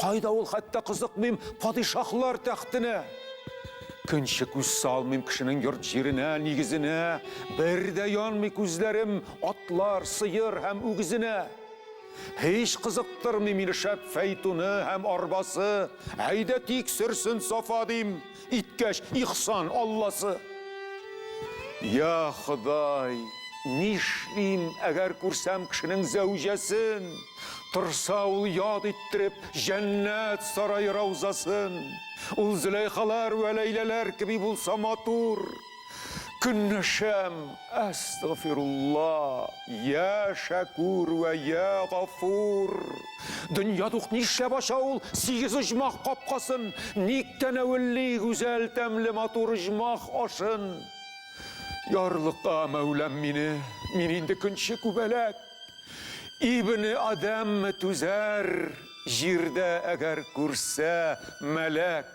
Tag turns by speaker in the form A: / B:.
A: Кайда ул, хәтта кызыкмыйм падишаһлар тәхтенә. Көнче күз салмыйм кешенең йорт-җиренә, нигезенә. Бер дә янмый күзләрем атлар, сыер һәм үгезенә. Һич кызыктырмый мине шәп фәйтуны һәм арбасы. Әйдә тик сөрсен Сафа, дим. иткәч, ихсан Алласы. Я Ходай, нишлим, әгәр күрсәм кешенең зәүҗәсен, торса ул яд иттереп җәннәт сарае раузасын, ул Зөләйхалар вә Ләйләләр кеби булса матур, Көнләшәм, әстәгъфирулла, йә Шәкүр вә йә Гафур! Дөнья тук нишләп ача ул сигез оҗмах капкасын, ник тәнәвелли гүзәл тәмле матур оҗмах ашын? Ярлыка, Мәүлам, мине, мин инде көнче күбәләк. Ибне Адәмме түзәр, җирдә әгәр күрсә мәләк?